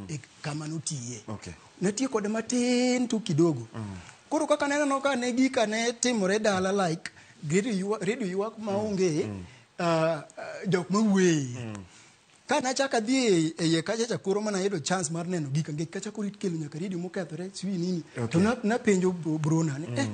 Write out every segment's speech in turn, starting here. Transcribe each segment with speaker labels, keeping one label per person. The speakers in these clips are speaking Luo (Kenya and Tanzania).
Speaker 1: e kama notiye okay. natiye kode matin tu kidogo mm. koro kaka neneno ka ne gika ne timore dala like redio ywak maonge mm. uh, uh, jok mawueye mm. ka nachak adhi e, e iye kacha chakoro mana yudo chance mar neno gika ngech kachakoro ikelo nyaka redio mokethore siwi nini okay. to napenjo na brona ni eh, mm. eh,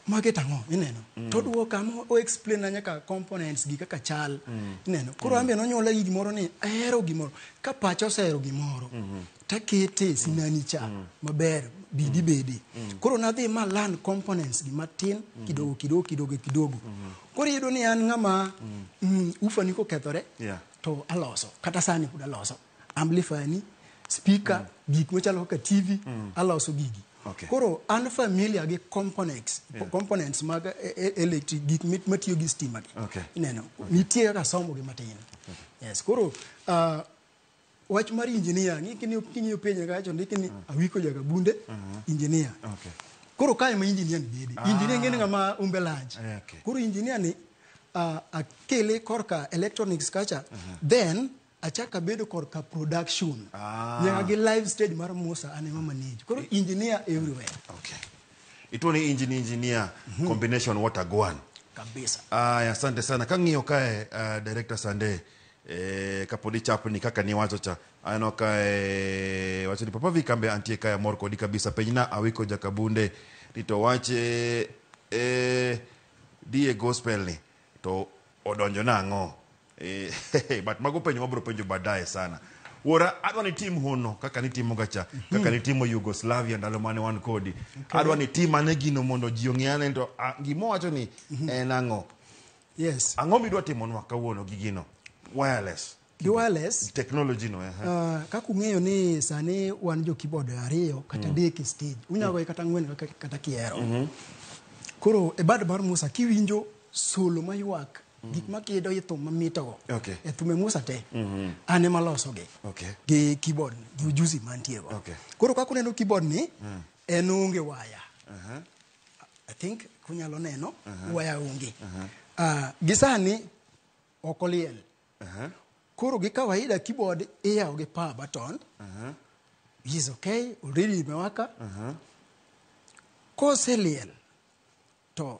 Speaker 1: Market ang'o ineno mm. to duo kama o explain na nyaka components gi kaka chal mm. ineno koro mm. ambe nonyola gi gimoro ni ahero gimoro ka pacha osehero gimoro mm -hmm. takete sinani cha mm. maber bidi mm. bedi mm. koro nadhi ma learn components gi matin mm -hmm. kidogo kidogo kidogo kidogo mm -hmm. koro iyudo ni an ng'ama mm. mm, ufa ni kokethore yeah. to aloso kata sani pod aloso amplifier ni speaker mm. gik machalo kaka tv mm. aloso gigi okay. koro an familiar gi components yeah. components mag e, e, electric gik matiyo gi stima gi okay. ineno okay. nitie kaka somo gi matin okay. yes koro uh, wach mar engineer ng'iki ni kinyo penja kacho ndiki ni mm. awiko jaga bunde uh mm-hmm. -huh. engineer okay. koro kae ma engineer ni bede ah. engineer ngene ngama umbe large yeah, okay. koro engineer ni uh, akele korka electronics kacha uh mm-hmm. -huh. then achaka bedo kor ka production ah. nyaka gi live stage mar Musa ane mama niji koro engineer everywhere okay ito ni engineer engineer mm -hmm. combination what a gwan kabisa ah asante sana kang'iyo kae uh, director Sande eh, kapodi chap ni kaka ni wacho cha aneno kae wacho ni papa vikambe antie kae mor kodi kabisa penyna awiko jakabunde rito wache eh, die gospel ni to odonjo nang'o Eh, but mago penjo mabro penjo baadaye sana wuora adwa ni tim hono kaka nitimoga cha kaka nitimo yugoslavia ndalo mane wan kodi adwa ni tim ane gino mondo ji ong'e ane to ah, gima wacho ni en ang'o yes ang'o midwa timonwa kawuono gi gino wireless gi wireless technology no eh, eh. Uh, kaka ung'eyo ni sani wan jo keyboard ariyo kata mm. adek e stage unyalo goye kata ang'wen kata- kata kihero koro e bad mar musa kiwinjo solo maywak gik ma kido i thum mamitogo Okay. e thume musa te an ema losogi Okay. gi keyboard gi ujuzi mantiego Okay. koro kaka uneno keyboard ni en onge waya i think kunyalo neno waya onge Ah, gi sani ok oliel koro gi kawaida keyboard iyawo gi power button is okay already imewaka koseliel to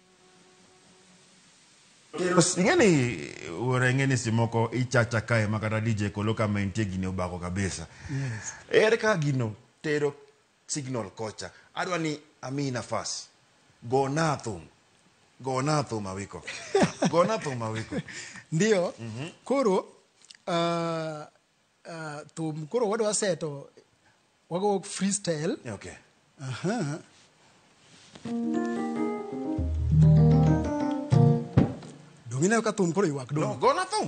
Speaker 1: ingeni ora ingeni simoko ichacha kae ma kata dj kolo ka maintie gini obako kabisa yes. ere ka gino tero signal kocha adwa ni ami nafas go na thum go na thum awiko go na thum awiko ndio mm -hmm. koro uh, Ah, thum koro wadwa seto wago freestyle Okay. Aha. Donge ineno ka thum koro ywak No, dong. go na thum.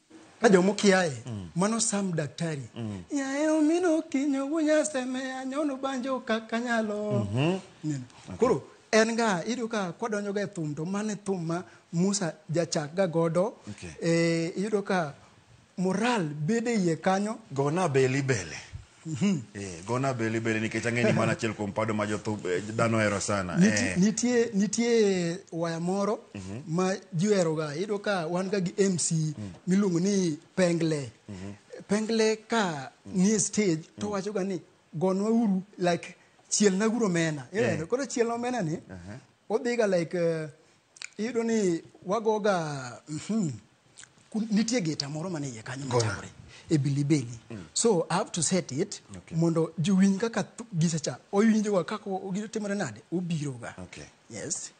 Speaker 1: ka jomo kiaye mm. mano sam daktari mm. yaye omino kinyo gunyasemeya nyono banjo kaka nyalo mm -hmm. koro en ga iyudo ka kwadonjo ga e thum to mane thum ma musa jachak ga godo okay. e, iyudo ka moral bede iye kanyo gona beli bele Mhm. Eh, gona beli beli nikech ang'eni mana achiel kuom pado ma jothum eh, dhano hero sana. Niti- Eh. nitie nitie waya moro ma ji oheroga iyudo ka wan ga gi mc miluongo ni pengle pengle ka nie stage to wachoga ni gonwa uru like chielna uru omena ineno koro chielna omena ni odhiga like eh, Iyudo ni wagoga mhm, ku- nitie geta moro mane iye kanyo machakore e bilibeli so i have to set it Okay. mondo jowinj kaka thu- gisecha owinjoga kaka o- gino timore nade obiroga Okay. yes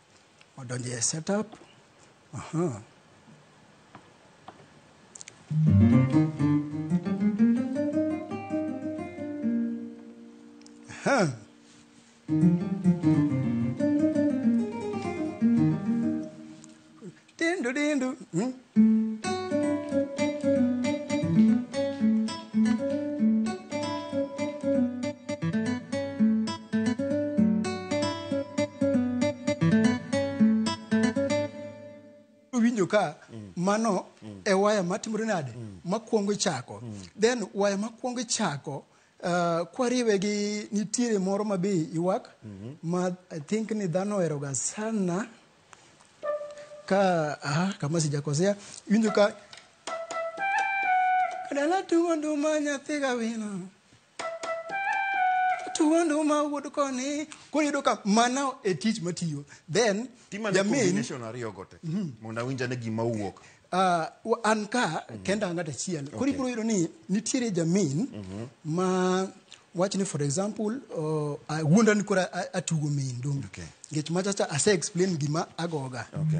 Speaker 1: odonje e setup Aha. Aha. Dindu dindu. Hmm? winjo ka mano e waya matimore nade makwongo ichako then waya makwongo ichako Uh, kwariwe gi nitiere moro ma be ywak mm -hmm. ma i think ni dhano oheroga sana ka aha, kama sijakosea iwinjo ka dala tugo nduma nyathi gawino tugo nduma wuod koni koro yudo ka mana e tich matiyo then jamin ariyogo te mm -hmm. mondo awinjane gima owuok Uh, an ka mm -hmm. kenda ng'at achiel koro okay. ibiro yudo ni nitiere jamin mm -hmm. ma wach ni for example uh, wuonda ni koro atugo min dong okay. ngech machacha ase explain gima agoga okay.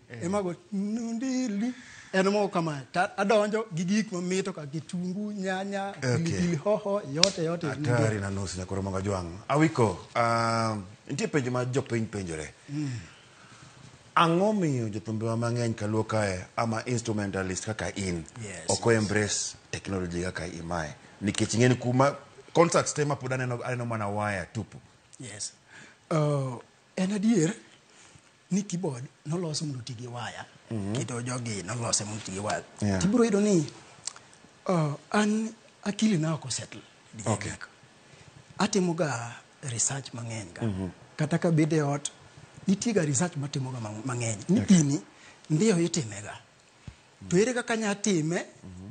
Speaker 1: eh. ema go ndili en mo kama ta adonjo gi gik ma mito ka kitungu nyanya pilipili hoho yote yote hatari na nusu nyakoro manga jwang awiko uh, nitie penjo ma jopiny penjore mm. ang'o miyo jothumbewa mang'eny kaluo kae ama instrumentalist kaka in yes, ok yes. embrace technology kaka imae nikech ing'eni kuma concerts te mapod aneno, aneno mana waya tupu yes. uh, en adier ni keyboard nolos mondo oti gi waya mhm. kendo jogi nolose mondo oti gi waya tibiro yudo ni uh, an akili na ok osettle okay. atimoga research mang'eny ga mhm. kata ka bede ot nitiega research matimoga mang'eny ni gini ndiyo itimega To ere kaka anya time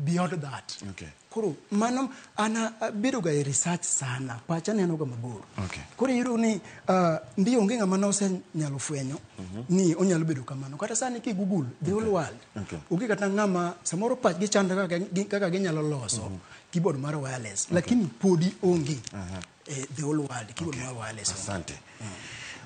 Speaker 1: beyond that? Okay. Koro mano ana bedo ga e research sana, pacha neno ga mabor. Okay. Koro iyudo ni uh, ndio onge ng'ama nose nyalo fwenyo ni onyalo bedo kamano. Kata sani ki Google the whole world. Okay. Onge kata ng'ama samoro pach gi chanda kaka gi- kaka ginyalo loso keyboard mar wireless lakini podi onge. eh, the whole world kibo okay. wale so asante mm.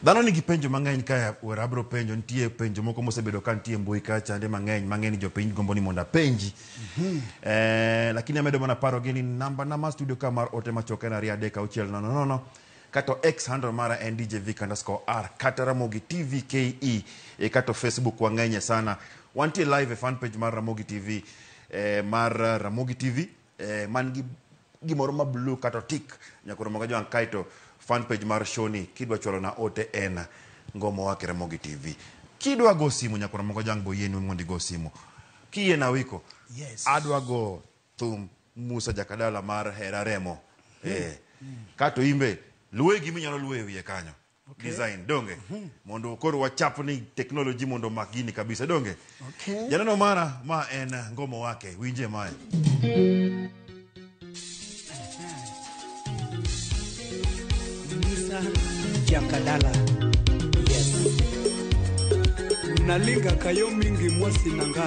Speaker 1: dhano nigi penjo mang'eny ka wera abro penjo nitie penjo moko mosebedo ka nitie mbui ka chande mang'eny mang'eny jopiny gombo ni mondo apenji mm -hmm. eh, lakini amedo mana paro gi ni namba na ma studio ka mar ote machoke na ria deka uchiel nono nono no, no. kato x handle mara en dj vic underscore r kata ramogi tv ke e kato facebook wang'enye sana wantie live e fan page mar ramogi tv e, mar ramogi tv eh, man gi gimoro ma blue kato tik nyakoro moga joang kaito fan page mar shoni kidwa chwalo na ote en ngomo wake ramogi tv kidwa go simu nyakoro moga joang boyeni mondo igo simu kiye na wiko yes. adwa go thum musa jakadala mar hera remo eh. kato imbe luwe gimi nyalo luwe wiye kanyo Okay. design donge mondo koro wachap ni technology mondo omak gini kabisa donge Okay. janeno mara ma en ngomo wake winje mae Musa Jakadala. Yes. Nalinga kayo mingi mwasi nanga.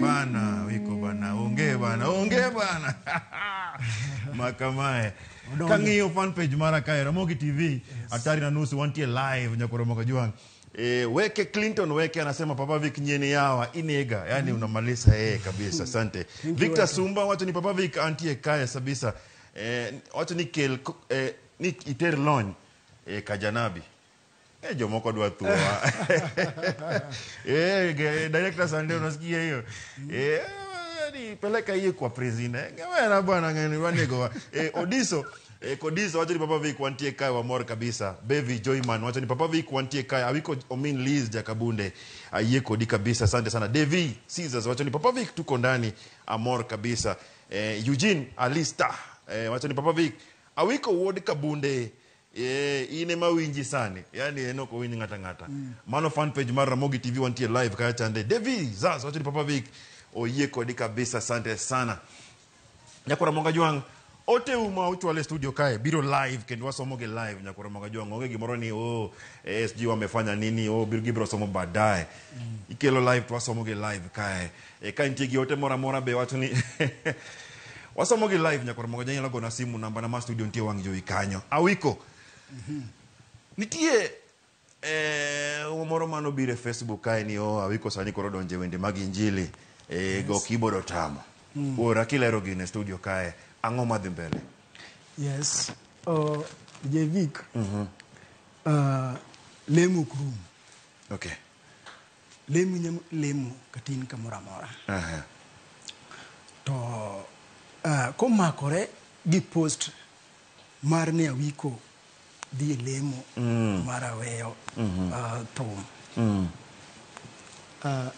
Speaker 1: bana wiko bana onge bana onge bana makamae kang'iyo fan page mara kae ramogi tv atari na nusu wantie live nyakoromoka juang' E, weke Clinton weke anasema Papa Vic nyeni yawa inega yani unamaliza yeye kabisa asante Victor Sumba wacho ni Papa Vic antie kaya sabisa e, wacho ni kel ko- e, ni iter lony e, kajanabi e, jomoko dwa thua e, ge- director Sunday unasikia hiyo e, ni peleka hiyo kwa president ngewera bwana ngani wanego e, Odiso E, Kodisa wacho ni Papa Vic wantie kae wamor kabisa. Bevi Joyman wacho ni Papa Vic wantie kae awiko omin Liz Jakabunde ayie kodi kabisa. Asante sana. Devi Caesars wacho ni Papa Vic tuko ndani amor kabisa. E, Eugene Alista e, wacho ni Papa Vic awiko wuod Kabunde e, in ema winji sani yani en ok owinj ng'ata ng'ata mm. mano fan page mar Ramogi TV wantie live kaya chande Devi Zaz wacho ni Papa Vic oyie kodi kabisa. Asante sana. Nyakora Monga Jwang' ote u ma uchwal e studio kae biro live kendo wasomo gi live Nyakora Monga Jwang' onge gimoro ni oh ASG wamefanya nini oh bir gibiro somo baadaye ikelo live to wasomo gi live kae e, ka nitie gi ote moro amora be wacho ni wasomo gi live Nyakora Monga Jwang' inyalo gona simu namba na ma studio nitie wang' jowi kanyo awiko nitie Eh, moro mano biro e Facebook kae ni oh, awiko sani koro donje wende mag injili eh, yes. go keyboard otamo mm. ora kilero gine studio kae ang'o madhi mbele yes uh, jevik mm -hmm. uh, lemo krum okay lemo nyam lemo katin kamoro amora uh -huh. to uh, komakore gi post Mar ni awiko dhi e lemo mar aweyo ah, thum. Ah,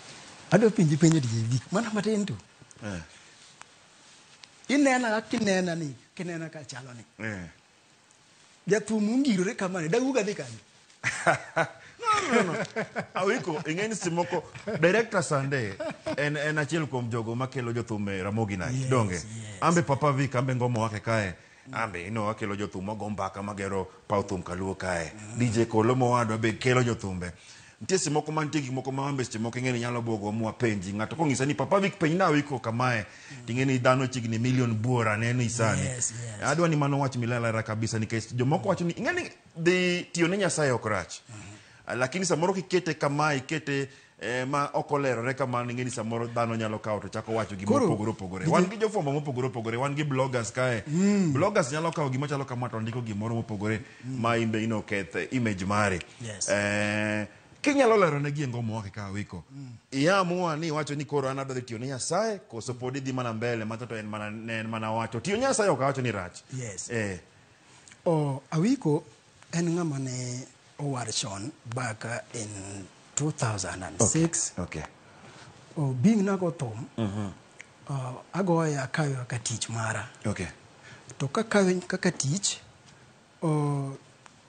Speaker 1: adwa penji penjo diye gik mana matin tu. Eh. Inena kinena ni kinena ka chalo ni. Eh. Jathum ungirore kamani dawuga dhi kanye? awiko ing'e ni seche moko director sande en, en achiel kuom jogo makelo jothum e ramogi night Yes, donge yes. ambe papa vik ambe ngomo wake kae ambe ino wakelo jothum wago mbaka magero paw thum kaluo kae dj kolo mowadwa be kelo jothumbe nitie seche moko mantie gik moko ma ambe seche moko ing'e ni nyalo bwogo mwa penji ng'ato kong'isa ni papa vik penj na awiko kamae ting'e ni dhano chiegni milion buora neno isani Yes, yes. adwa ni mano wach milalera kabisa nikech jomoko wacho ni ing'e ni dhi tiyo ne Nyasaye ok rach. Ah, Lakini samoro kikete kama ikete eh, ma ok olerore kamano ing'e ni samoro dhano nyalo kawo to chako wacho gima Koro, opogore opogore. gini- Wan gi jofwambo mopogore opogore, wan gi bloggers kae. Bloggers nyalo kawo gima chalo kama to ndiko gimoro mopogore ma in be ino keth eh, image mari. Yes. Eh, kinyalo lero ne giengo moa kaka wiko. Iamua ni iwacho ni koro an adhi tiyo ne Nyasaye koso pod idhi mana mbele macha to en mana ne en mana wacho. Tiyo ne Nyasaye ok awacho ni rach. Yes. Eh. Awiko en ng'ama ne owar chon back in 2006. Okay. Oh, being nago thum, ah, agoye akawe kaka tich mara. Okay. To kakawe kaka tich, oh,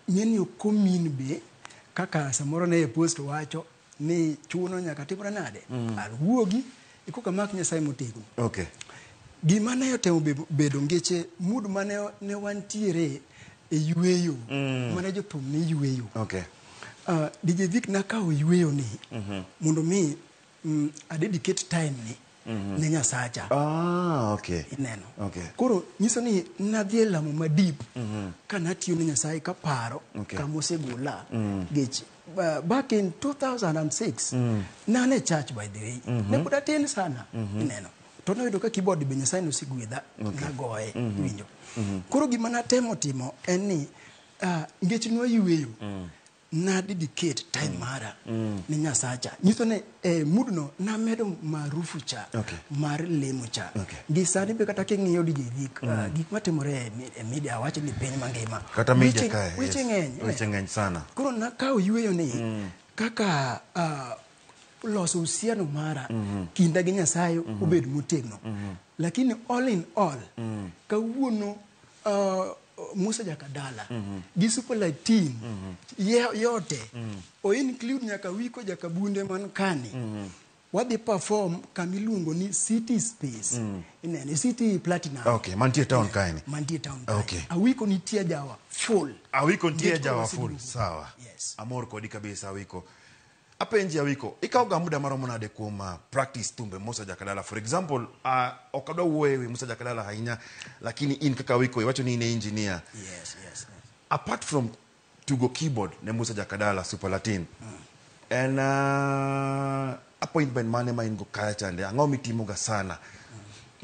Speaker 1: ng'eni ok omin be kaka samoro ne e post wacho ni chuno nyaka timre nade mm. alwuogi ikoka mak nyasaye motegno okay. gima ne otemo bedo ngeche mud mane ne wantiere e yueyo mm. mane jothum ne yueyo okay. uh, ah, dije vik nakawo yueyo ni mm -hmm. mondo mi mm, adedicate time ni mhm. ne nyasacha ah, okay. ineno okay. koro nyiso ni nadhi e lamo ma deep mm -hmm. ka natiyo ne nyasaye kaparo okay. kama osegola mm -hmm. geche uh, back in 2006 mm. nane church by the way mm -hmm. ne pod atin sana mm -hmm. ineno to noyudo ka keyboard be nyasaye nosegwedha okay. nagoye mm -hmm. winjo mm -hmm. koro gima natemo timo en ni uh, ngech noyweyo mm. nadi diket time mara ne nyasacha nyiso ni e mudno namedo marufu cha Okay. mar lemo cha Okay. gi sani be kata king'iyo dije gik ah, gik matimore e mi- e media wacho ni piny mangima kata media Weche- kae weche yes. ng'eny eh. weche ng'eny sana koro nakawo yueyo ni kaka ah, loso uhusiano mara kinda gi nyasaye obed motegno lakini all in all kawuono ah, Musa Jakadala gi Super Light Team ye- yote o include nyaka Wiko Jakabunde man kani wadhi perform kama iluongo ni City Space inene City Platinum Okay, mantie town kaeni. mantie town kae. Okay. Awiko nitie jawa full awiko ntie Get jawa over full Sidugu. sawa Yes. amor kodi kabisa awiko Apenji Awiko, ikawo ga muda maromo nade kuom uh, practice thumbe Musa Jakadala? For example, uh, ok adwa wuoyo ewi Musa Jakadala ahinya, lakini in kaka Awiko iwacho ni in e engineer. Yes, yes, yes. Apart from tugo keyboard ne Musa Jakadala Super Latin, en uh, appointment mane ma in go kaya chande? Ang'o mitimoga sana?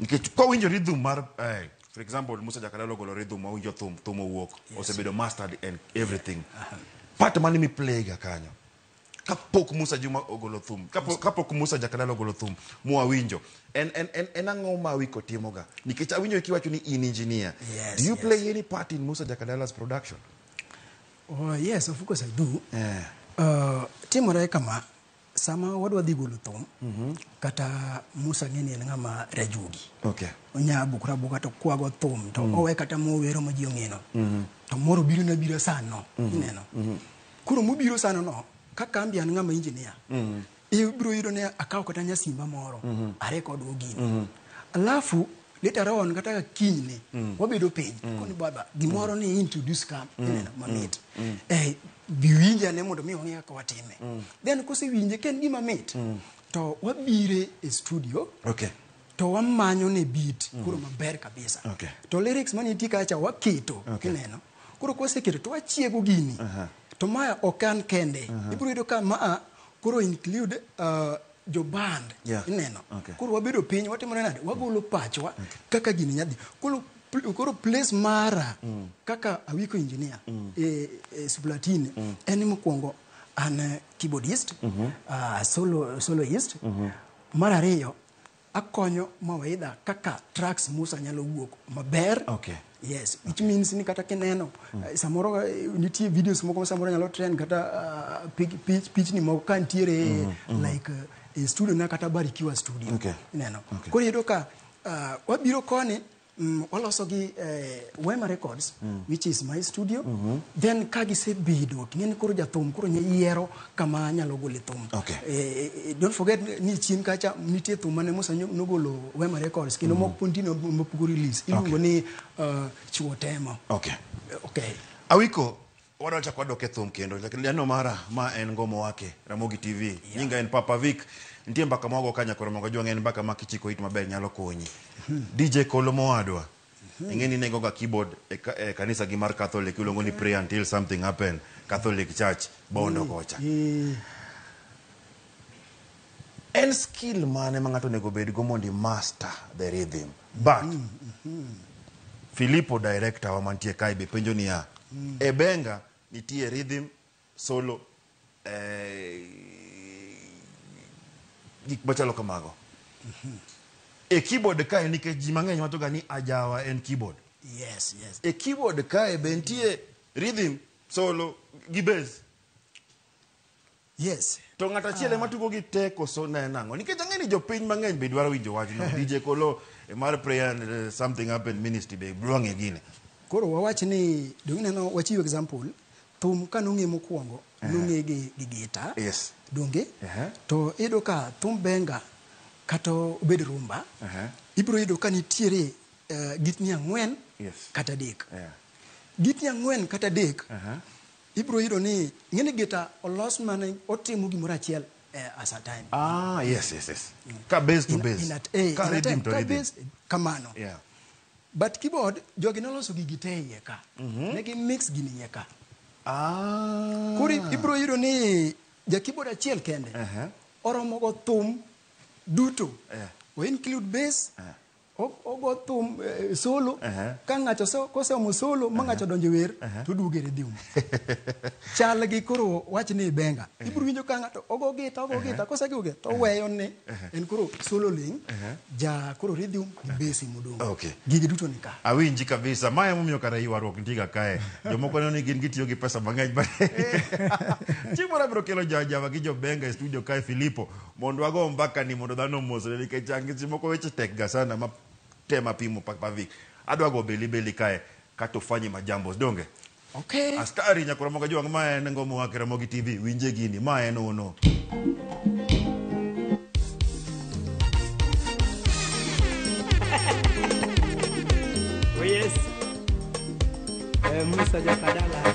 Speaker 1: Nikech ka winjo rhythm mar eh, for example Musa Jakadala ogolo rhythm ma winjo thum, thum owuok, osebedo mastered and everything. Part mane miplayga kanyo? kapok Musa Juma ogolo thum kapok, kapok Musa Jakadala ogolo thum mwawinjo en en en, en ang'o ma wiko timoga nikech awinjo kiwacho ni in engineer Yes, do you yes. play any part in Musa Jakadala's production Oh, yes, of course I do. eh Uh, timore kama sama wadwa dhi golo thum kata musa ng'eni en ng'ama rajuogi okay onya buk rabuka to kwago thum to owe kata mowero ma ji ong'eno to moro biro na bira sano ineno Koro mobiro sano no, ka kambi an ng'ama engineer, mm. ibiro yudo ni akawo kata nyasimba moro, mm -hmm. are kod ogini. Mm -hmm. Alafu, later on, kata kinyne, mm -hmm. wabedo piny, mm -hmm. koni baba, gimoro mm -hmm. ni introduce kam, mm -hmm. mamit. Mm -hmm. Eh, biwinja ne mondo mi wang'e kaka watime. Mm -hmm. Then, kose winje, ken gima mit, mm -hmm. to wabire e studio, okay. to wamanyo ne beat, mm -hmm. kuro maber kabisa. Okay. To lyrics mani tika acha waketo, okay. kineno. koro kwaseketo to wachiego gini to maya ok an kende ibiro yudo ka maa koro include uh, joband Yeah. ineno Okay. koro wabedo piny watimore nade wagolo pachwa kaka gini nyadhi koro pl- koro place mara kaka awiko engineer e, e suplatini en mokwongo an eh, keyboardist ah, solo soloist mar ariyo akonyo mawaidha kaka tracks Musa nyalo wuok maber. Okay. Yes, which means ni kata kineno mm. uh, samoro eh, nitie videos moko samoro nyalo trend kata uh, pic, pic, pic ni moko ka nitiere mm -hmm. Mm-hmm. like uh, studio na kata Barikiwa studio. Okay. Ineno. Okay. Koro yudo ka uh, wabiro koni Mm, waloso gi eh, Wema Records mm. which is my studio mm -hmm. then ka gisebedo ting'eni koro jathum koro nye yiero kama anyalo gole thum okay. eh, eh, eh don't forget ni chien kacha nitie thum mane Musa nogolo Wema Records kendo mm -hmm. mokpundi no mopugo release iluongo okay. ni uh, chuo temo okay. okay. Awiko Wadwachak wadok e thum kendo lendo mara ma en ngomo wake Ramogi TV. Yeah. Nyinga en Papa Vic. Nitie mbaka ma wago kanya koro mogo jwang' en mbaka ma kichiko it maber nyalo konyi. Hmm. DJ Kolo mowadwa. Hmm. Ing'e ni nego ga keyboard e, ka, e kanisa gi mar Catholic iluongo ni pray until something happen. Catholic Church bondo hmm. kocha. Hmm. En skill mane ma ng'ato onego bedgo mondo i master the rhythm? But Filipo director wa mantie kae be penjo niya, e benga nitie rhythm, solo, eh, gik machalo kamago. E keyboard kae nikech ji mang'eny wachoga ni ajawa en keyboard. Yes, yes. E keyboard kae be nitie rhythm, solo gi bass. Yes. To ng'at achiel ema tugo gi te koso ne nang'o? Nikech ang'e ni jopiny mang'eny be dwaro winjo wachno. DJ Kolo e mar prayer and eh, something happened ministry be dwa ng'e gini. Koro wawach ni donge ineno wachiw example thum ka nong'e mokwongo nong'e gi gi gita. Yes. Donge? Ehe. To iyudo ka thum benga kata obed rumba Ehe. ibiro yudo ka nitiere eh, gitni ang'wen Yes. kata adek. Yeah. Gitni ang'wen kata adek Aha. Ibiro yudo ni ng'eni gita olos mane otimo gimoro achiel eh, as a time. Ah, yes, yes, yes. Ka base to In- base. in at- eh, Ka in a rhythm time, to ka rhythm. base, eh, kamano. Yeah. But keyboard jogi noloso gigi te iye ka. Ne gi mix gini iye ka. Ah. Koro ibiro yudo ni ja keyboard achiel kende Aha. oromo go thum duto. Yeah. O include bass, ogo thum eh, solo uh -huh. ka ng'ato koseomo solo ma ng'ato odonjo wer uh -huh. to duogo e redium chal gi koro wach ni benga uh -huh. ibiro winjo ka ng'ato ogo gita ogo gita uh -huh. kosegiwo gita to weyo ni uh -huh. en koro solo ling uh -huh. ja koro redium gi besi modong okay. gigi duto ni ka awinji kabisa ma emomiyo kara ywaruok ntiga kae jomoko neno ni gin gitiyo gi pesa mang'eny chieng' moro abiro kelo jajava gi jobenga e studio kae filipo Mondo ago mbaka ni mondo dhano omosre nikech an gi seche moko weche tek ga sana ma tema pimo pak pa vik. Adwa go beli beli kae kato fanye majambos donge? Okay. Askari nyakura moga juang ma en ngomo wa kera mogi TV winje gini ma en ono. Oh yes. Eh, Musa Jakadala.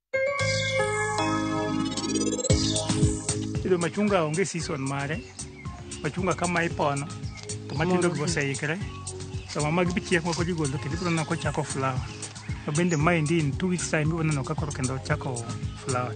Speaker 1: Yudo machunga onge season mare. Machunga kama ipono to matindo go oseikre. Sama mag bichiek moko jigolo kendo ibiro neno kochako flower. To bende maendi in two weeks time ibiro neno ka koro kendo ochako flower.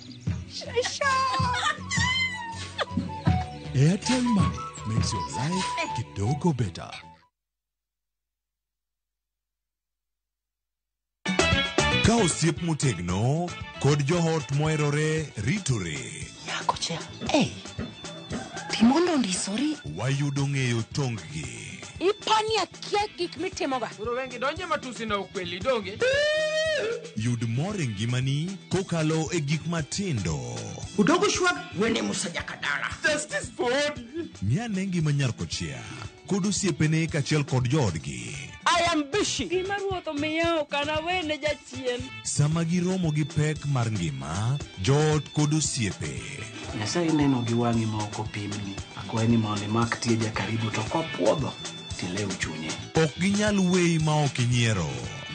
Speaker 1: Airtel Money makes your life kidogo better. Ka osiep motegno kod joot moherore ritore, Nyako cha. Hey. Timondo ndisori. wayudo ng'eyo tonggi. Ipani akia gik mitimoga. Koro wengi donje matusi na ukweli donge. Yud mor e ngimani kokalo e gik matindo. Udogo shwag wene musajaka dala. Justice for Odi. Miane ngima nyar kochia kod osiepene kaachiel kod joodgi. I am busy. Gima ruoth omiya ok anawene Sama giromo gi pek mar ngima, joot kod osiepe. Nyasaye neno gi wang'i ma ok opimni. Akwaye ni mondo imak tie jakaribu to kopwodho tilew chunye. Ok ginyal weyi ma ok inyiero.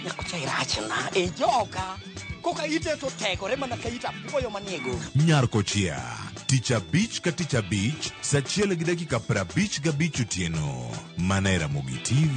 Speaker 1: Nyakucha irachna e joka. Koka ite to tegore mana ka ita puoyo manie gogo. Nyar Kochia, tich abich ka tich abich, sa achiel gi dakika prabich gabich otieno. Mana e Ramogi TV.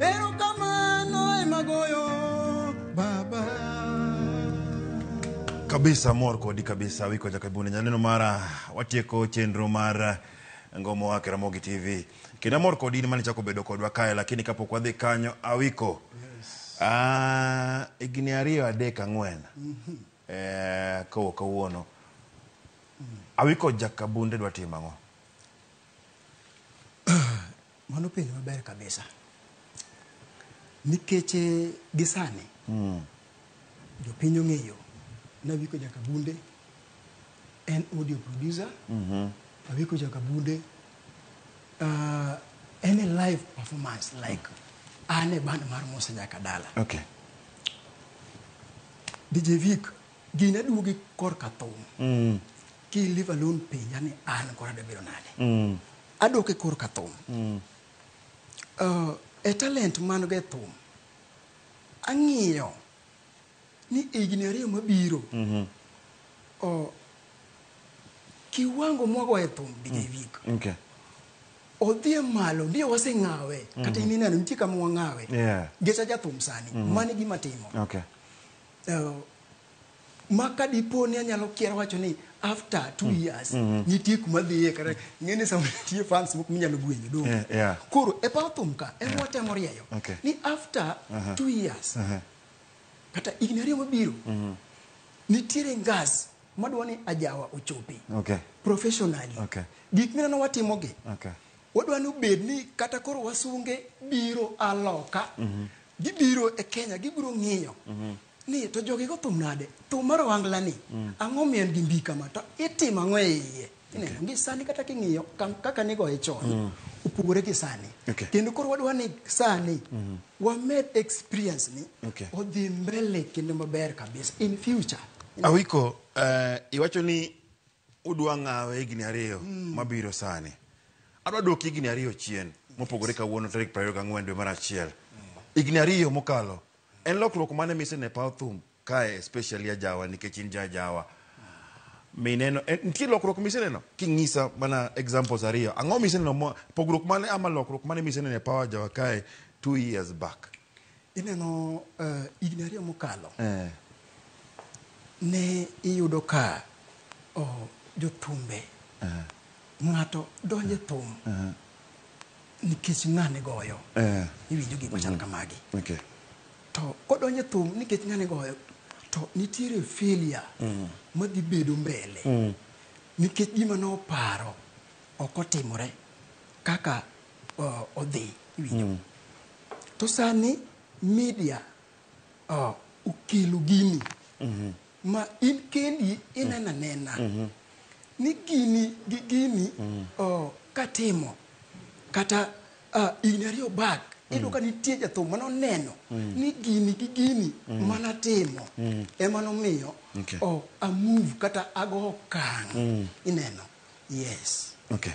Speaker 1: Erokamano ema goyo baba. kabisa mor kodi kabisa wiko ja kabune nyaneno mara watieko chenro mar ngomo wake ramogi tv kendo amor kodi ni mane chako bedo kodwa kae lakini kapok wadhi kanyo awiko Ah, higni ariyo adek ang'wen eh, kowo kawuono awiko jakabunde dwa timo ang'o Mano penjo maber kabisa. Nikech eh, gisani mm. jopiny ong'eyo ni Awiko Jakabunde en audio producer mm -hmm. Awiko Jakabunde uh, en a live performance like an e band mar Musa Jakadala. Okay. DJ Vic gin aduogi korka thum mm. Ki leave alone penja ni an koro adwa bedo nade. Mm. Adok e kor ka thum. Mm. Uh, e talent man go e thum, ang'iyo ni higni ariyo mabiro mm -hmm. uh, kiwango mwago e thum DJ mm. Vic. Okay. odhi e malo ndiye waseng'awe mm -hmm. kata mhm. ineno nitie kama wang'awe yeah. gecha jathum sani mm -hmm. mani gima timo okay. uh, ma ka dipo ni anyalo kier wacho ni after two mm. years mm -hmm. nitie kuma dhiye kata ng'eni sama nitie fans moko minyalo gwenyo dong yeah, yeah. koro e paw thum ka en yeah. watemo rieyo okay. ni after uh -huh. two years uh -huh. kata higni ariyo mabiro mm -hmm. nitiere ngas madwa ni ajawa ochopi okay. professionally okay. gik mineno watimogi okay. wadwa ni obed ni kata koro wasunge biro aloka mm -hmm. gibiro e kenya gibiro ng'iyo mm -hmm. Ni, to jogi go thum nade? Thum mar ohangla ni, ang'o omiyo en gi mbii kama? To itimo ang'o e iye? Ineno, ngi sani kata king'iyo kam- kaka nigoye chon, opogore gi sani. Okay. Kendo koro wadwa ni sani, wamed experience ni, Okay. odhi mbele kendo maber kabisa in future. Awiko, eh, iwacho ni Udwa ng'awe higni ariyo mm. mabiro sani. Adwa duoki higni ariyo chien mopogore kawuono tarik 24 dwe mar achiel. Mm. Higni ariyo mokalo en lokruok mane mise ne paw thum kae especially ajawa nikech in ja ajawa. Mineno eh, nitie lokruok mise neno king'isa mana examples ariyo. Ang'o mise neno pogruok mane ama lokruok mane mise neno e paw ajawa kae 2 years back. Ineno uh, higni ariyo mokalo eh. ne iyudo ka oh, jotumbe eh. ng'ato donje eh. thum eh. nikech ng'ane goyo eh. iwinjo gik machal mm-hmm. kamagi okay. to kodonje thum nikech ng'ane goyo to nitiere filia mm. madhi bedo mbele mm. nikech gima noparo ok otimore kaka uh, odhi iwinjo mm. to sani media uh, okelo gini mm -hmm. ma in kendi inena mm. nena mm -hmm. ni gini gi gini mm -hmm. uh, katimo kata uh, in ariyo bak mm. iyudo ka nitie jathum mane oneno mm. ni gini gi gini mm. mana timo mm. ema nomiyo okay. oh, amove kata ago okang mm. ineno Yes. Okay.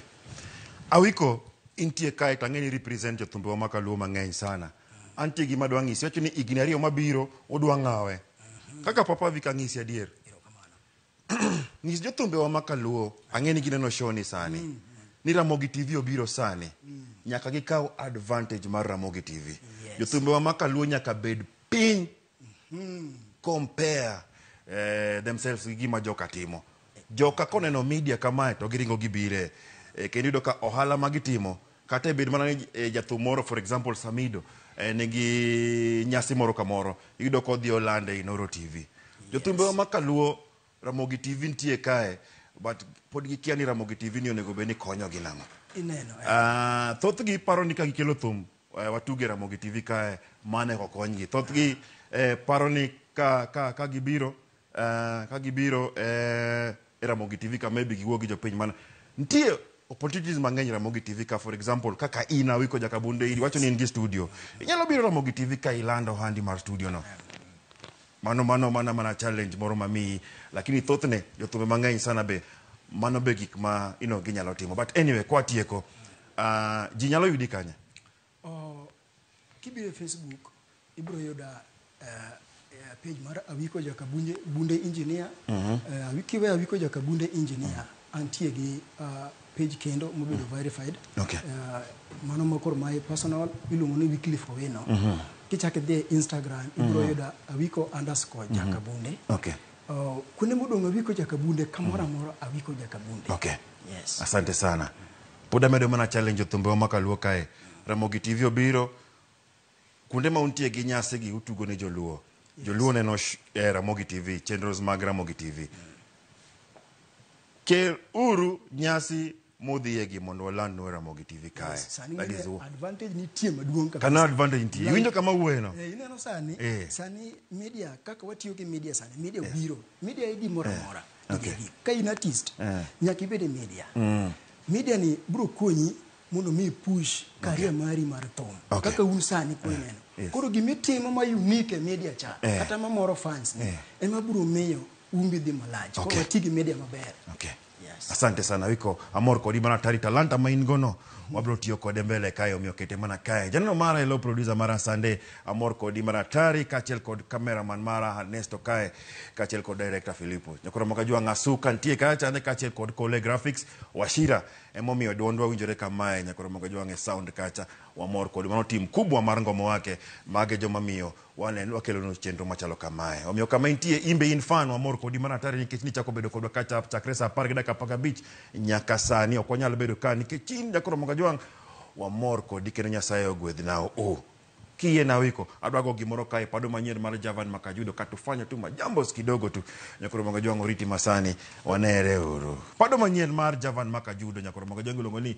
Speaker 1: Awiko intie kae to ang'eni represent jothumbewa ma kaluo mang'eny sana. Antie gima dwa ng'isi, wacho ni higni ariyo mabiro udwa ng'awe. Kaka papa Vic ang'isi adier. Ng'is jothumbewa ma kaluo, ang'eni gineno show ni sani. Ni Ramogi TV obiro sani. Nyaka gikaw advantage mar Ramogi TV. Yes. Jothumbewa ma kaluo nyaka bed piny compare eh, themselves gi gima joka timo joka koneno media kamae to giringo gibire eh, kendo yudo ka ohala ma gitimo kata e bed mana ni eh, jathum moro for example samido eh, nigi nyasi moro kamoro iyudo ka odhi olande e noro tv jothumbe wa makaluo ramogi tv nitie kae but pod gikia ni ramogi tv ni onego bed ni konyogi nang'o ineno eh. Ah, thothgi paro ni ka gikelo thum Eh, watuge Ramogi TV kae mane kokonygi. Thothgi eh, paro ni ka, ka, ka gibiro eh, ka gibiro eh, e Ramogi TV ka maybe giwuo gi jopiny mana. Nitie opportunities mang'eny Ramogi TV ka for example kaka in Awiko Jakabunde iri wacho ni in gi studio. Inyalo biro Ramogi TV ka ilando handi mar studio no. Mano mano mana mana challenge moro mamiyi lakini thothne jothumbe mang'eny sana be mano be gik ma you know, ginyalo timo but anyway kwatieko Uh, ji nyalo yudi kanye? Oh, kibiro e Facebook, ibiro yuda uh, eh, eh, page mar Awiko Jakabunde Bunde Engineer. Mm -hmm. uh, eh, Awikiwe Awiko Jakabunde Engineer. Mm -hmm. Antie gi uh, page kendo mobedo mm. verified okay. uh, mano makoro my personal iluongo ni Wycliffe Owino mm -hmm. kichak idhi e Instagram ibiro mm -hmm. yuda awiko underscore mm -hmm. jakabunde okay. Uh, kuonde modong' awiko ja kabunde kamoro amora awiko ja kabunde okay yes asante sana pod amedo mana challenge thumbewa ma kaluo kae ramogi tv obiro kuonde ma untie gi nyasi gi utugo ne joluo joluo neno sh- eh, ramogi tv chenros mag ramogi tv kel uru nyasi mudhiye gi mondo waland nue ramogi tv kae Yes, sani that is ng'eyo all. advantage nitie maduong' kabisa. kana advantage nitie iwinjo kama wuoyeno Eh, ineno sani Eh. sani media kaka watiyo gi media sani media obiro media e gimoro amora Okay. Gigi. ka in artist Eh. nyaka ibed e media media ni biro konyi mondo mi push career mari mar thum Okay. kaka un sani kuneno Yes. koro gimitimo ma unique e media cha Eh. kata mamoro fans ni Eh. ema biro miyo umbi dhi malach koro Okay. wati gi media maber Okay. Yes. Asante sana wiko amor kodi mana tari talanta ma in gono wabiro tiyo kode mbele kae omiyo kete mana kae janeno mara elo producer mara sande amor kodi mana tari kaachiel kod cameraman mara Ernesto kae kaachiel kod director Filipo nyakoro maka jua ng'asu kantie kae chande kaachiel kod Kole Graphics Washira emomiyo dwondwa winjore kamae nyakoro maka jua ng'e sound kacha wamor kodi mano tim kubwa mar ngomo wake mage joma miyo Waneno wakelonu chenro machalo kamae. Omiyo kama intie, in be in fan, wamor kodi mana atari nikech nichako bedo kodwa kacha chakre saa apar gi dakika apar gabich nyaka sani. Ok wanyal bedo ka nikech in Jack Ramogi Ajwang'. Wamor kodi kendo Nyasaye ogwedh nao u. Kiyie na wiko, adwa go gimoro kae pado manyien mar Javan Makajudo ka tufanyo tu majambos kidogo tu. Jack Ramogi Ajwang' oriti masani, wanere uru. Pado manyien mar Javan Makajudo, Jack Ramogi Ajwang' iluongo ni